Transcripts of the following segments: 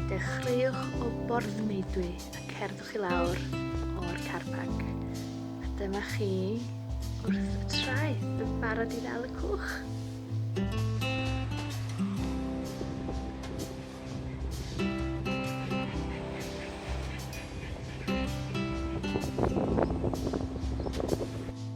Dechreuwch o borthmeidwi a cerddwch i lawr o'r car park. A dyma chi wrth y traeth yn barod i ddal y cwch.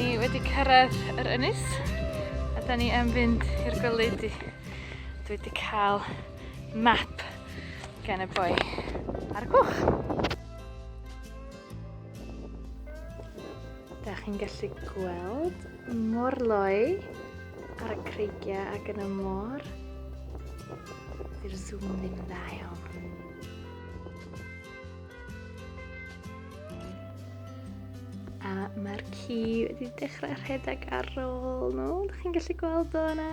ni wedi cyrraedd yr ynys a da ni am fynd i'r goleudi. Dwi wedi cael map gan y boi ar y cwch. Da chi'n gallu gweld Morloi ar y creigiau ac yn y môr. Dy'r zoom ddim dda iawn. A mae'r ci wedi dechrau rhedeg ar ôl nhw. Dych chi'n gallu gweld o yna?